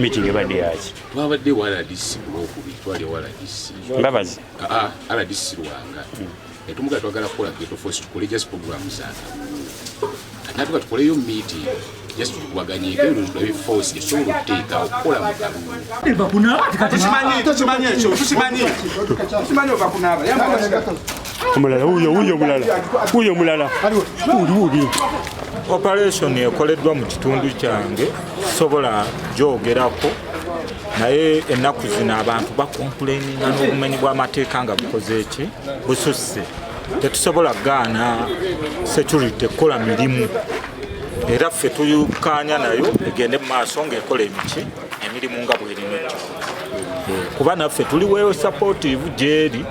meeting ebadde yaki twabadde rdc kulwokubi twali rdc mbabazi ah, ah, rdc lwanga netumugaa twagala kukola geto force tukole just program zana natuka tukoleyo meeting just tukubaganyeko ebyo tulabe force esobola okuteekawo kukola mu kalulu eva kunaaba tekimanyi tekimanyi ekyo tukimanyi tukimanyi ova kunaaba omulala wuyo wuyo omulala wuyo omulala wuli wubi operation ekoleddwa mu kitundu kyange sobola gyogerako naye ennaku zino abantu bakompuleninga n'obumenyi bw'amateeka nga bukoze eki bususse tetusobola gaana security kukola mirimu era ffe tuyukanya nayo egende mu maaso ng'ekola emiti emirimu nga bwerino ekyo kuba naffe tuli weeyo sapotivu gyeri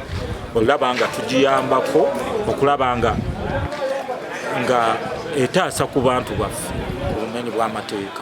olaba nga tugiyambako okulaba nga nga etaasa ku bantu baffe ku bumenyi bw'amateeka